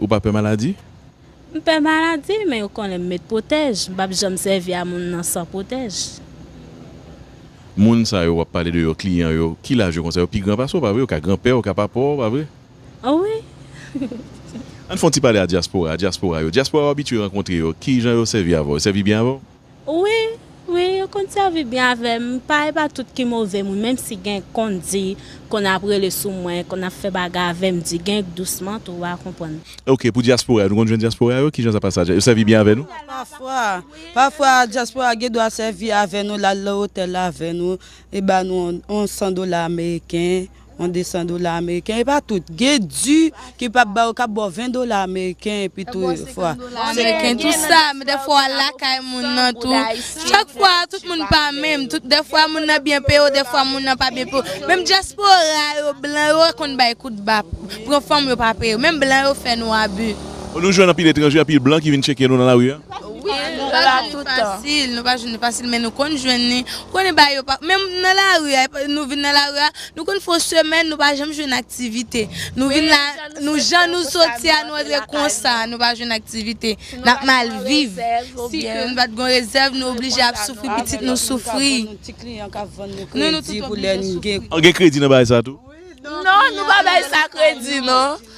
Ou pa pè maladi? M pè maladi, men yo konnen m met pwotèj. M pap janm sèvi a moun nan san pwotèj. Moun sa yo w ap pale de yo, kliyan yo, ki laj yo konsa? Yo pi gran pase w, pa vre? Yo ka granpè w, ka papa w, pa vre? Wi. Ann fè yon ti pale a dyaspora, dyaspora yo. Dyaspora w abitye rankontre yo, ki jan yo sèvi avè w? Yo sèvi byen avè w? Wi, wi yo konn sèvi byen avèm, m pa e pa tout ki move moun menm si gen konn di konn ap rele sou mwen, konn ap fè bagay avèm di gen k dousman tou wa konprann. Ok pou dyaspora yo nou konn jwenn dyaspora yo kijan sa pase a yo sèvi byen avè nou? Pafwa, pafwa dyaspora gendwa sèvi avè nou lal nan otèl avè nou li ba nou yon 100 dola ameriken yon 200 dola ameriken e pa tout gen di ki pap ba yo kap baw 20 dola ameriken epi tou yon fwa ameriken tou sa men dè fwa wal lakay moun nan tou chak fwa tout moun pa menm tout dè fwa moun nan byen peye w dè fwa moun nan pa byen peye w menm dyaspora yo blan yo konn bay kout ba pran fanm yo pa peye w menm blan yo fè nou abi. Nou jwenn anpil etranje anpil blan ki vin tcheke nou nan lari a. Wi nou pa jwenn li fasil nou pa jwenn li fasil men nou konn jwenn li ou konnen bagay yo pa menm nan lari a nou vin nan lari a nou konn fè yon semèn nou pa janm jwenn aktivite nou vin la nou jan nou soti a nou antre konsa nou pa jwenn aktivite n ap mal viv si ke nou pa t gen yon rezèv nou oblije ap soufri pitit nou soufri nou nou tout oblije soufri. Gen kredi nan bagay sa tou? Non nou pa bay sa kredi non.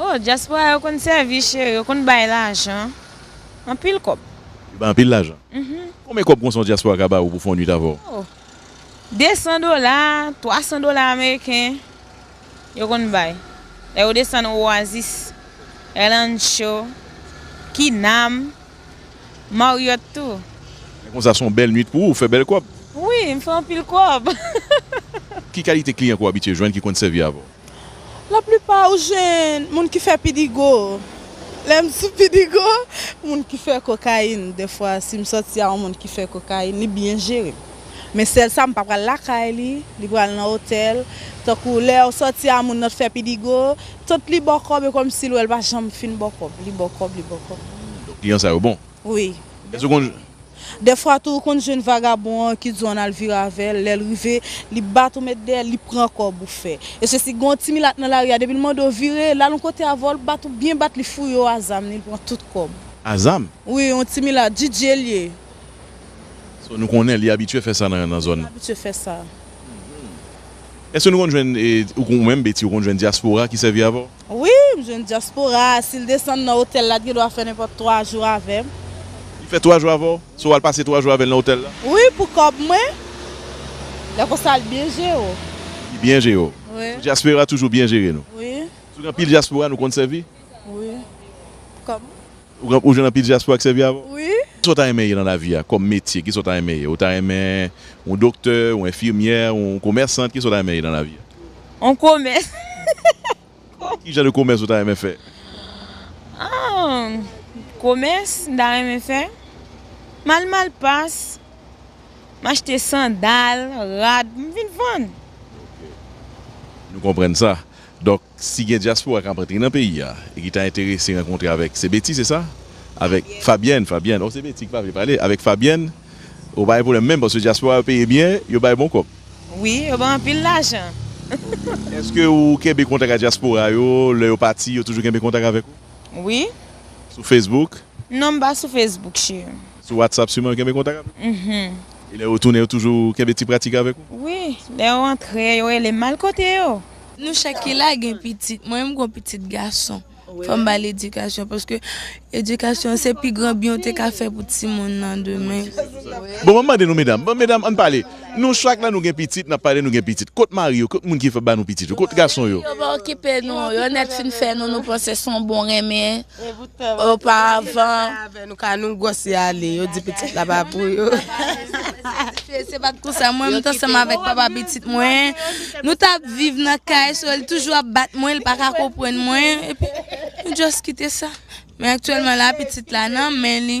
Oh diaspora yo konn sèvi chéri yo konn bay lajan anpil kòb. Yo bay anpil lajan. Konbyen kòb konsa yon diaspora ka ba ou pou fè yon nwit avè w? Oh 200 dola, 300 dola ameriken yo konn bay lè yo desann Oasis, Rancho, Kinam, Marriott tou. Men konsa son bèl nwit pou ou, ou fè bèl kòb. Wi m fè anpil kòb. Ki kalite kliyan ke w abitye jwenn ki konn sèvi avè w? La plipa ou jwenn moun ki fè pidigo. Lè m sou pidigo, moun ki fè kokayin. Dèfwa si m sòti a yon moun ki fè kokayin, li byen jere m. Men sèl sa m pa pral lakay li, li pral nan otèl. Tankou lè ou sòti a moun nan t fè pidigo, tant li ba w kòb e kòmsi l wè l pa janm fin ba w kòb. Li ba w kòb, li ba w kòb. Donk kliyan sa yo bon. Wi. Dèfwa tou ou konn jwenn vagabon an ki di w ann al vire avè l, lè l rive, li bat ou met dèyè, li pran kòb ou fè. E se si gen yon ti milat nan lari a, depi l mande w vire, l al yon kote avè w, l bat ou byen bat, li fouye w a zam li, li pran tout kòb. A zam? Wi, yon ti milat, DJ l ye. So nou konnen li abitye fè sa nan zòn. Li abitye fè sa. Èske nou konn jwenn, ou menm Betty, ou konn jwenn dyaspora ki sèvi avè w? Wi, m jwenn dyaspora a. Si l desann nan otèl la, li gen dwa fè nenpòt twa jou avè m. Li fè twa jou avè w? Se w al pase twa jou avè l nan otèl la? Wi, pou kòb mwen. Lè konsa, l byen jere w. Li byen jere w? Wi. Sou dyaspora toujou byen jere nou? Wi. Sou gen anpil dyaspora nou konn sèvi? Wi. Pou kòb mwen. Ou jwenn anpil dyaspora k sèvi avè w? Wi. Sa w ta renmen ye nan lavi a kòm metye? Kisa w ta renmen ye? Ou ta renmen yon doktè, yon enfimyè, yon komèsant? Kisa w ta renmen ye nan lavi a? Yon komès. Ki jan de komès ou ta renmen fè? Komès m ta renmen fè, m al malpas, m achte sandal, rad, m vin vann. Nou konprann sa. Donk si gen dyaspora kap antre nan peyi a e ki ta enterese rankontre avèk se Betty se sa? avèk Fabyèn Fabyèn oh se Betty ki pa vle pale avèk Fabyèn oh pa gen pwoblèm menm paske dyaspora yo peye byen yo bay bon kòb. Wi yo bay anpil lajan. Ok eske ou kenbe kontak ak dyaspora yo lè yo pati yo toujou kenbe kontak avèk ou? Wi. Sou Facebook? Non m pa sou Facebook cheri. Sou WhatsApp siman yo kenbe kontak avèw? Uhmm. E lè yo tounen yo toujou kenbe ti pratik avèk ou? Wi, lè yo antre yo rele m al kote yo. Nou chak ki la gen pitit, mwen menm m gon pitit gason fò m bal edikasyon paske edikasyon se pi gran byen ou te ka fè pou timoun nan demen. Bon mwen mande nou medam, bon medam ann pale, nou chak la nou gen pitit nap pale nou gen pitit, kot mari yo kot moun ki fè banou pitit yo, kot gason yo? Mari yo pa okipe nou, yo nèt fin fè nou nou panse son bon renmen Oparvan, nou gwòse ale, yo di pitit la pa pou yo. Se pa t kou sa, mwen menm t ansanm avèk papa pitit mwen, nou t ap viv nan kay, so li toujou ap bat mwen, li pa ka konprann mwen, epi nou just kite sa. Men aktyèlman la, pitit la nan men li.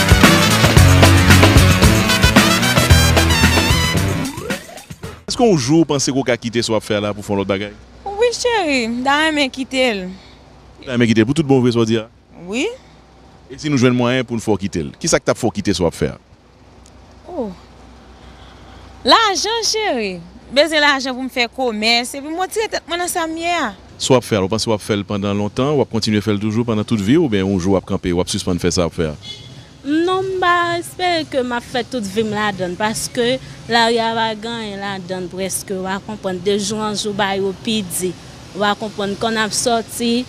Eske yon jou ou panse ke ou ka kite sa wap fè a la pou fon lòt bagay? Wi cheri, m ta renmen kite l. Ou ta renmen kite l pou tout bon vre sa w di a? Wi. E si nou jwenn mwayen poun fè w kite l? Kisa k tap fè w kite sa wap fè a? Oh. Lajan cheri, m bezwen lajan pou m fè komès, epi m retire tèt mwen nan sa m ye a. Si w ap fè al, ou panse w ap fè l pandan lontan, w ap kontinye fè l toujou pandan tout vi w oubyen yon jou w ap kanpe, w ap sispann fè sa w ap fè a? M, Non, m pa espere ke m ap fè tout vi m ladann paske lari a pa gen anyen ladan l prèske, w a konprann, de jou an jou bagay yo pi di, w a konprann, m konn ap sòti,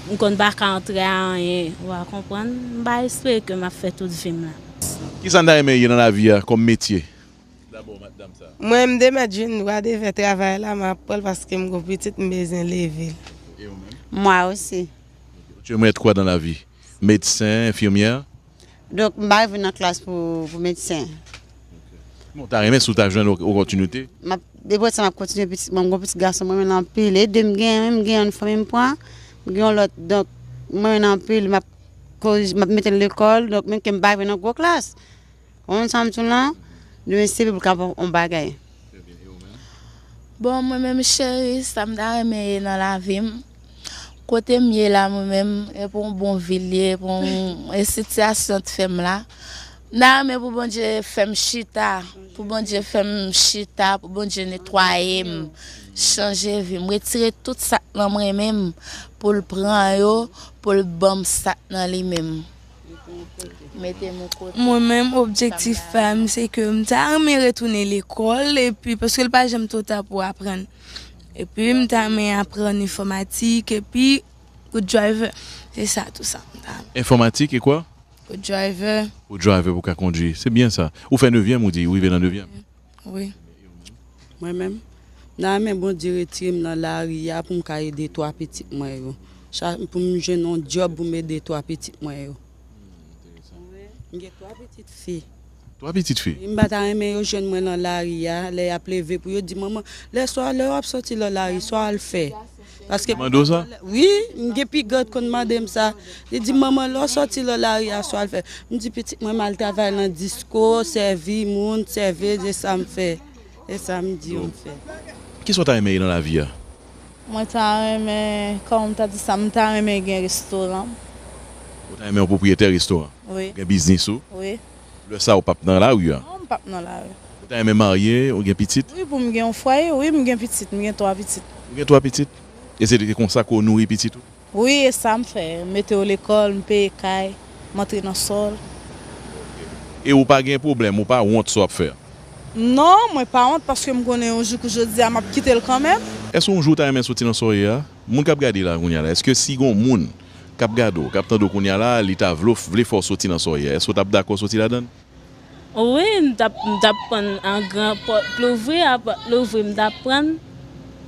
m konn pa ka antre a anyen, w a konprann, m pa espere ke m ap fè tout vi m la. Ki sa n ta renmen ye nan lavi a kòm metye? Mwen m de mèt jwenn dwa de fè travay la, m ap pran l paske m gon pitit m bezwen leve l. Mwa osi. Ou te renmen èt kwa dan lavi? Medsen, enfimyè? Donk m pa rive nan klas pou medsen. Men w ta renmen si w ta jwenn opòtinite? M ap depi wè sa m ap kontinye pitit mwen, m gon pitit gason m renmen l anpil e de m gen yon m gen yon fanmi m pran, m gen yon lòt donk m renmen l anpil m ap. Koz map metel lekol donk menm kem pa rive nan gwo klas konprann sam diw lan demen se pou kap on bagay. Bon mwen menm cheri sam ta renmen ye nan lavim kotem ye la mwen menm epi yon bon vil ye epi yon e sitiyasyon t fèm la. Mta renmen pou Bondye fèm chita pou Bondye fèm chita pou Bondye netwayem chanje vim retire tout sak nan mwen menm poul pran yo poul banm sak nan li menm metem yon kote. Mwen menm objektif pam se ke m ta renmen retounen lekòl epi paske l pa janm two ta pou aprann epi m ta renmen aprann enfòmatik epi good driver se sa tou sa m ta renmen. Enfòmatik e kwa? Ou driver. Ou driver pou ka kondwi. Se byen sa. Ou fè nevyèm ou di, ou rive nan nevyèm. Wi. Mwen menm, m ta renmen Bondye retire m nan lari a pou m ka ede twa pitit mwen yo. Pou m jwenn yon dyòb pou m ede twa pitit mwen yo. Mwen gen twa pitit fi. 3 pitit fi. M pa ta renmen yo jwenn mwen lan lari a, lè y ap leve pou yo di manman, lè swa, lè w ap sòti lan lari, sa w al fè? Paske Yo mande w sa? Wi, m gen pi gran ki konn mande m sa. Li di m, manman, lè w sòti lan lari a, sa w al fè? M di pitit mwen m al travay lan disko, sèvi moun, sèveuz, e sa m fè. E sa m di yo m fè. Ki sa w ta renmen ye nan lavi a? Mwen ta renmen, kòm m ta di sa, m ta renmen gen restoran m. Ou ta renmen yon pwopriyetè restoran? Wi. Ou gen biznis ou? Wi. Lè sa a ou pap nan lari a? Non, m pap nan lari. Ou ta renmen marye, ou gen pitit? Wi, pou m gen yon fwaye. Wi, m gen pitit. M gen twa pitit. Ou gen twa pitit? E se konsa ke w nouri pitit ou? Wi e sam fè, m mete yo lekòl, m peye kay, m antre nan sòl. E ou pa gen pwoblèm, ou pa wont sa w ap fè a? Non, mwen pa wont paske m konnen yon jou kou jodi a m ap kite l kanmenm. Èske yon jou ou ta renmen soti nan sa w ye a? Moun k ap gade la kounya la, èske si gen yon moun k ap gade w, k ap tande w kounya la, li ta vle w, vle fè w soti nan sa w ye a, èske w t ap dakò soti ladan l? Wi m tap m tap prann an gran pòt louvri a pòt louvri m tap prann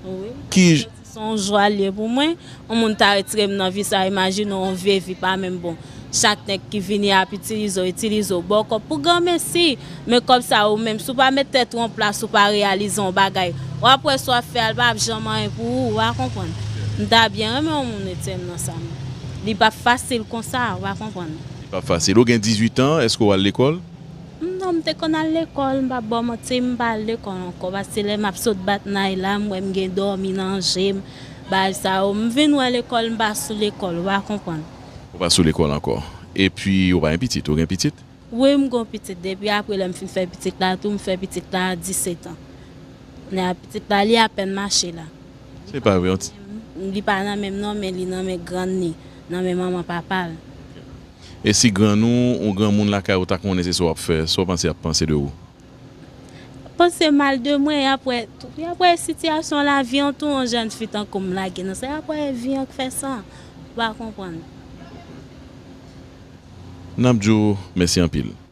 wi m tap santi se yon jwa l ye pou mwen yon moun ta retire m nan vi sa imajine w yon vye vi pa menm bon chak nèg ki vini ap itilize w itilize w ba w kòb pou granmesi men kòb sa ou menm si w pa met tèt ou an plas ou pa reyalize yon bagay wap wè sa w ap fè a li pap janm anyen pou ou ou pa konprann m ta byen renmen yon moun retire m nan sa m li pap fasil konsa ou pa konprann. Li pap fasil. Ou gen 18 an, èske ou al lekòl? M, Non, m te konn al lekòl. M pap ba w manti, m pa al lekòl ankò paske lè m ap sot bat nay la, m wè m gen dòmi nan je m, bagay sa yo. M vin wè lekòl, m pa sou lekòl, ou pa konprann. Ou pa sou lekòl ankò. Epi, ou pa gen pitit? Ou gen pitit? Wi, m gen yon pitit. Depi apre lè m fin fè pitit la tou, m fè pitit la a disetan. Kounye a pitit la, li apèn mache la. Se pa vre yon ti. Li pa nan menm non men li nan men grann li nan men manman papa l. E si grann ou ou granmoun lakay ou ta konnen se sa w ap fè sa w panse y ap panse de ou? Y ap panse mal de mwen y ap wè tou y ap wè sitiyasyon lavi an tou yon jèn fi tankou m lage nan sa y ap wè vi an k fè sa ou pa konprann. N ap di w mèsi anpil.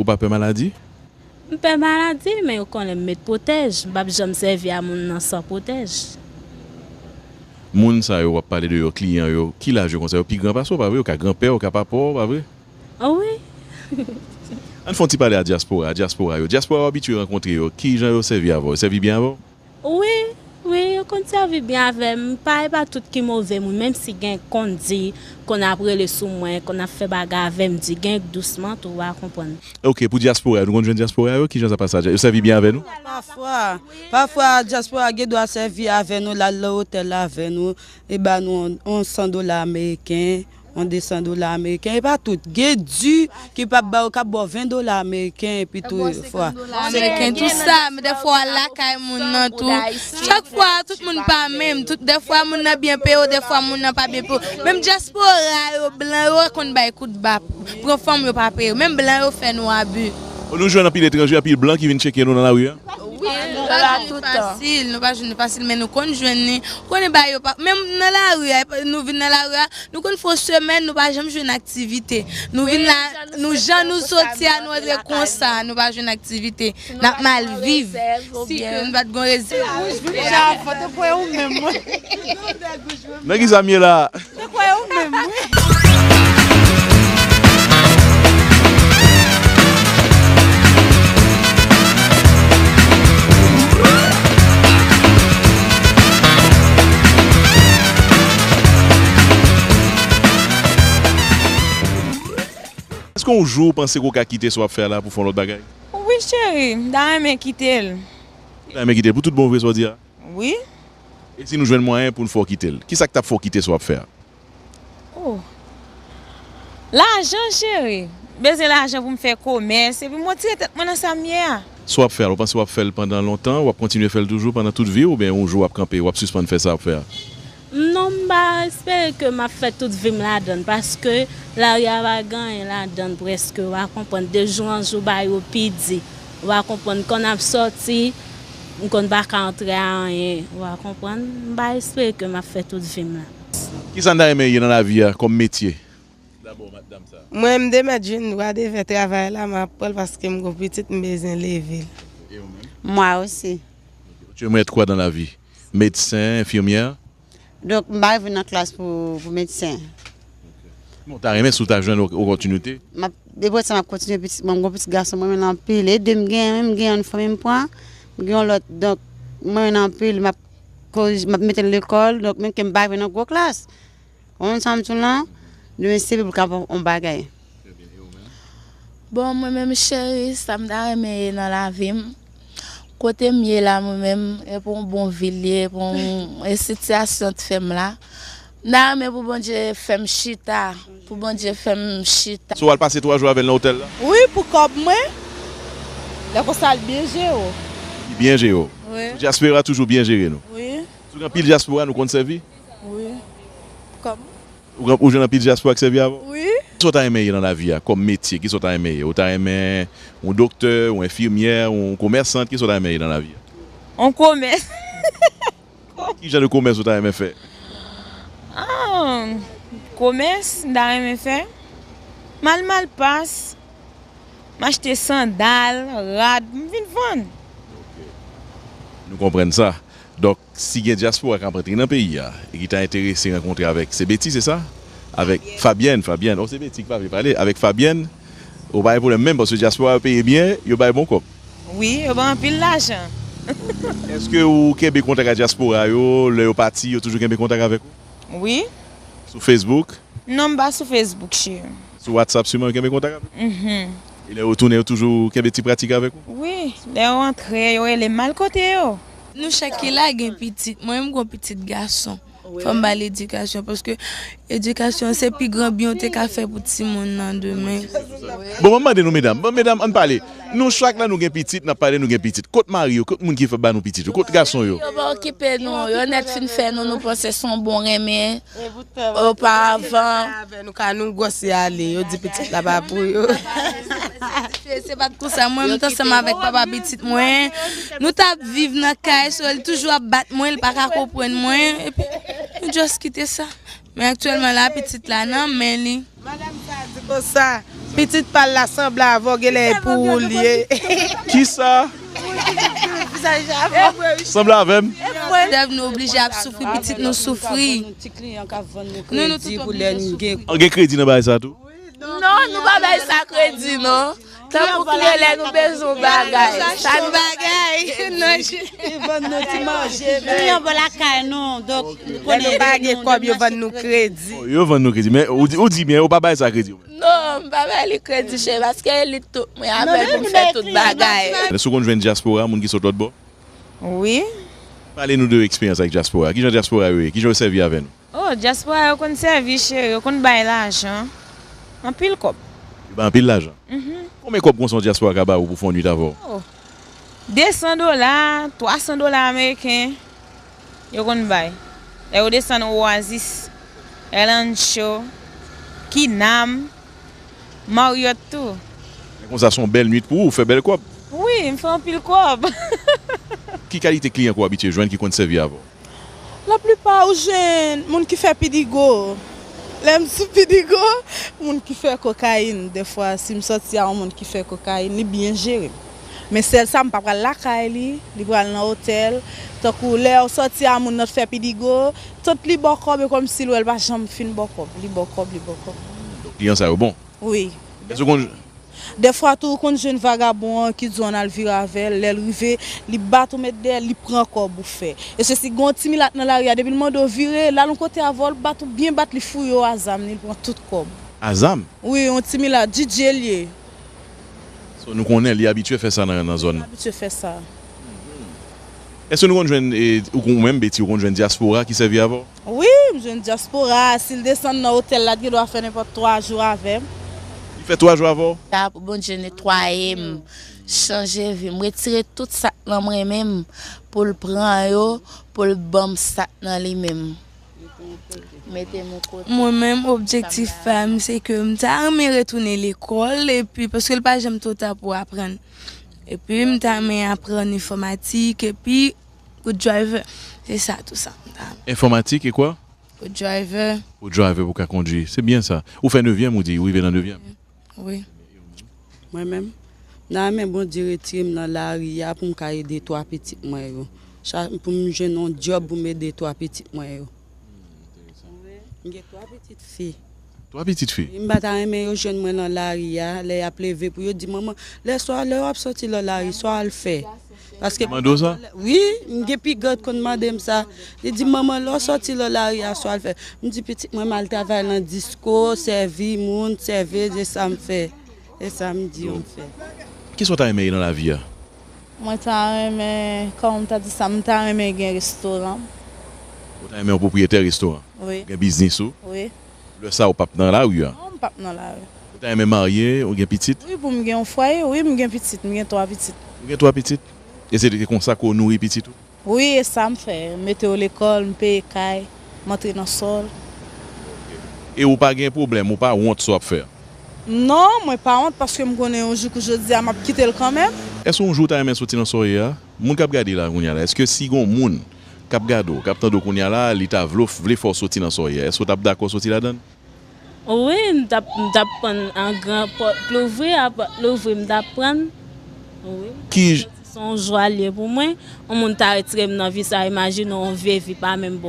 Ou pa pè maladi? M pè maladi, men yo konnen m met pwotèj. M pap janm sèvi a moun nan san pwotèj. Moun sa yo w ap pale de yo, kliyan yo, ki laj yo konsa? Yo pi gran pase w, pa vre? Yo ka granpè w, ka papa w, pa vre? Wi. An n fè yon ti pale a dyaspora, dyaspora yo. Dyaspora w abitye rankontre yo, ki jan yo sèvi avè w? Yo sèvi byen avè w? Wi, wi yo konn sèvi byen avè m, pa e pa tout ki move moun menm si gen konn di konn ap rele sou mwen, konn ap fè bagay avè m di gen dousman tou wa konprann. Ok pou dyaspora yo nou konn jwenn dyaspora yo kijan sa pase la yo sèvi byen avè nou? Pafwa, pafwa dyaspora gen dwa sèvi avè nou lal nan otèl avè nou e ba nou yon 100 dola ameriken. yon 200 dola ameriken e pa tout gen di ki pap ba yo kap baw 20 dola ameriken epi tou fwa ameriken tou sa men dèfwa wal lakay moun nan tou chak fwa tout moun pa menm tout dèfwa moun nan byen peye w dèfwa moun nan pa byen peye w menm dyaspora yo blan yo konn bay kout ba pran fanm yo pa peye w menm blan yo fè nou abi. Nou jwenn anpil etranje anpil blan ki vin tcheke nou nan lari a. Wi nou pa jwenn li fasil nou pa jwenn li fasil men nou konn jwenn li ou konnen bagay yo pa menm nan lari a nou vin nan lari a nou konn fè yon semèn nou pa janm jwenn aktivite nou vin la nou jan nou soti a nou antre konsa nou pa jwenn aktivite n ap mal viv si ke nou pa t gon rezèv. Nan ki sa m ye la a? Se kwè ou menm Eske yon jou ou panse ke ou ka kite sa wap fè a la pou fon lòt bagay? Wi cheri, m ta renmen kite l. Ou ta renmen kite l pou tout bon vre sa w di a? Wi. E si nou jwenn mwayen pou n fè w kite l? Kisa k t ap fè w kite sa w ap fè a? O! Lajan cheri! M bezwen lajan pou m fè komès epi m wotire tèt mwen nan sa m ye a. Sa w ap fè a la, ou panse w ap fè l pandan lontan? W ap kontinye fè l toujou pandan tout vi w oubyen yon jou w ap kanpe, w ap sispann fè sa w ap fè a? Non m pa espere ke map fè tout vim ladann paske lari a pa gen anyen ladann prèske wa konprann de jou an jou bagay yo pi di wa konprann kon ap sòti m konn pa ka antre a anyen wa konprann m pa espere ke map fè tout vim la. Kisa n ta renmen ye nan lavi a kòm metye dabò matdam sa? Mwen m de mèt jwenn dwa de fè travay la map pranl paske m gon pitit m bezwen leve l. E ou menm? Mwa osi. Ok ou t jwenn mèt kwa dan lavi? medsen, enfimyè? Donk m pa rive nan klas pou medsen. Men w ta renmen si w ta jwenn opòtinite? Depi lè sa m ap kontinye pitit mwen, m gen yon pitit gason m renmen l anpil. E de m gen menm, m gen yon fanmi m pran, m gen yon lòt. Donk m renmen l anpil, m ap mete l lekòl, donk menm ke m pa rive nan gwo klas. Konn sa m di w la? Li menm se pou kapab on bagay. Bon mwen menm cheri sa m ta renmen ye nan lavi m kote m ye la mwen menm e pou on bon vil li ye pou e sitiyasyon t fè m la m ta renmen pou Bondye fè m chita pou Bondye fè m chita. So wal pase 3 jou avèl nan otèl la? Wi pou kòb mwen. Lè konsa li byen jere w. Li byen jere w. Wi. Sou dyaspora toujou byen jere nou. Wi. Sou gen anpil dyaspora nou konn sèvi? Wi. Kòm. Ou gen ou jwenn anpil dyaspora k sèvi avè w? Wi. Kisa w ta renmen ye nan lavi a kòm metye? Kisa w ta renmen ye? Ou ta renmen yon doktè, yon enfimyè, yon komèsant? Kisa w ta renmen ye nan lavi a? Yon komès. Kòm. Ki jan de komès ou ta renmen fè? Komès m ta renmen fè? M al malpas, m achte sandal, rad, m vin vann. Ok. Nou konprann sa. Donk. Si gen dyaspora kap antre nan peyi a e ki ta enterese rankontre avèk se Betty se sa? Avèk Fabyèn Fabyèn oh se Betty ki pa vle pale avèk Fabyèn oh pa gen pwoblèm menm paske dyaspora yo peye byen yo bay bon kòb. Wi yo bay anpil lajan. Ok eske ou kenbe kontak a dyaspora yo lè yo pati yo toujou kenbe kontak avèk ou? Wi. Sou Facebook? Non m pa sou Facebook cheri. Sou WhatsApp siman yo kenbe kontak avèk ou? Mph. E lè yo tounen yo toujou kenbe ti pratik avèk ou? Wi lè yo antre yo relem mal kote yo? Nou chak ki la gen pitit, mwen menm m gon pitit gason, fò m ba l edikasyon paske edikasyon se pi gran byen w te ka fè pou timoun nan demen. Bon mwen mande nou medam, bon medam ann pale, nou chak la nou gen pitit, n ap pale nou gen pitit, kot mari yo, kot moun ki fè ba nou pitit yo, kot gason yo? Yo pa okipe nou, yo nèt fin fè nou nou panse s on bon renmen. Oparavan, nou gwòse ale, yo di pitit la pa pou yo. Se pa t konsa, mwen menm t ansanm avèk papa pitit mwen, nou t ap viv nan kay, so li toujou ap bat mwen, li pa ka konprann mwen, epi nou just kite sa. Men aktyèlman la, pitit la nan men li. Madam sa a di konsa, pitit pa l la sanble avè w genlè e pou ou li ye. Kisa? Sanble avè m? Dev nou oblije ap soufri pitit nou soufri. Nou nou tout oblije soufri. Gen kredi nan bagay sa tou? Non nou pa bay sa kredi non. Tanpou kle lè nou bezwen yon bagay. Sa nou bagay nan je. Yo vann nou ti manje. Kliyan bo lakay nou. Donk nou konnen. Lè nou pa gen kòb yo vann nou kredi. Yo vann nou kredi. Men ou di byen ou pa bay sa kredi. Non m pa bay li kredi cheri paske li t tout mwen avè l pou m fè tout bagay. Men si w konn jwenn dyaspora moun ki sot lòtbò. Wi. Pale nou de eksperyans ak dyaspora. Kijan dyaspora yo ye? Kijan yo sèvi avè nou? Oh diaspora yo konn sèvi cheri yo konn bay lajan anpil kòb. Yo bay anpil lajan? Konbyen kòb konsa yon diaspora ka ba ou pou fè yon nwit avè w? Oh 200 dola 300 dola ameriken yo konn bay lè yo desann oasis, el ancho, kinam, marriott tou. Men konsa son bèl nwit pou ou, ou fè bèl kòb. Wi m fè anpil kòb. Ki kalite kliyan ke w abitye jwenn ki konn sèvi avè w? La plipa ou jwenn moun ki fè pidigo. Lè m sou pidigo, moun ki fè kokayin. Dèfwa si m sòti a yon moun ki fè kokayin, li byen jere m. Men sèl sa m pa pral lakay li, li pral nan otèl. Tankou lè w sòti a moun nan t fè pidigo, tant li ba w kòb e kòmsi l wè l pa janm fin ba w kòb. Li ba w kòb, li ba w kòb. Donk kliyan sa yo bon. Wi. Èske w konn jwenn. Dèfwa tou ou konn jwenn vagabon an ki di w ann al vire avè l, lè l rive, li bat ou met dèyè l, li pran kòb ou fè. Èske si gen yon ti milat nan lari a depi l mande w vire, l al yon kote avè w, l bat ou byen bat, li fouye w a zam li, l pran tout kòb. A zam? Wi, yon ti milat, DJ l ye. So nou konnen li abitye fè sa nan zòn nan? Li abitye fè sa. Èske nou konn jwenn, ou menm Betty, ou konn jwenn dyaspora ki sèvi avè w? Wi, m jwenn dyaspora a. Si l desann nan otèl la, l gendwa fè nenpòt twa jou avè m. Li fè twa jou avè w? Sa a pou Bondye netwaye m, chanje vi m, retire tout sa k nan m renmen m, pou l pran yo, pou l ban m sa k nan li menm. Mete m yon kote. Mwen menm, objektif pa m se ke m ta renmen retounen lekòl epi paske l pa janm two ta pou aprann. Epi m ta renmen aprann enfòmatik epi. Good driver, se sa tou sa m ta. Enfòmatik e kwa? Good driver. Good driver pou ka kondwi. Se byen sa. Ou fè nevyèm ou di, ou rive nan nevyèm? Wi. Mwen menm, m ta renmen Bondye retire m nan lari a pou m ka ede twa pitit mwen yo. Pou m jwenn yon dyòb pou m ede twa pitit mwen yo. M gen 3 pitit fi. 3 pitit fi? Wi, m pa ta renmen yo jwenn mwen lan lari a, lè y ap leve pou yo di manman, lè swa, lè w ap soti lan lari, sa w al fè? Paske Yo mande w sa? Wi, m gen pi gran ki konn mande m sa. Li di m, manman, lè w soti lan lari a, sa w al fè? M di, pitit mwen, m al travay lan disko, sèvi moun, sèvez, e sa m fè. E sa m di yo m fè. Ki sa w ta renmen ye lan lavi a? Mwen ta renmen kòm ta di sa m ta renmen gen restoran. Ou ta renmen yon pwopriyetè restoran? Wi. Ou gen biznis ou? Wi. Lè sa ou pap nan lari an? Non m pap nan lari. Ou ta renmen marye, ou gen pitit? Wi pou m gen yon fwaye, wi m gen pitit, m gen 3 pitit. Ou gen 3 pitit? E se konsa ke ou nouri pitit ou? Wi e sam fè, m mete yo lekòl, m peye kay, m antre nan sòl. E ou pa gen pwoblèm, ou pa wont sa w ap fè an? Non, mwen pa wont paske m konnen yon jou kou jodi a m ap kite l kanmenm. Èske yon jou ou ta renmen soti nan sa w ye a? Moun k ap gade la kounye a la, èske si gen yon moun k ap gade w, k ap tande w kounye a la, li ta vle w, vle fè w soti nan sa w ye a, èske w t ap dakò soti ladan l? Wi m tap m tap prann an gran pòt louvri a pòt louvri m tap prann wi m tap santi se yon jwa l ye pou mwen yon moun ta retire m nan vi sa imajine w yon vye vi pa menm bon.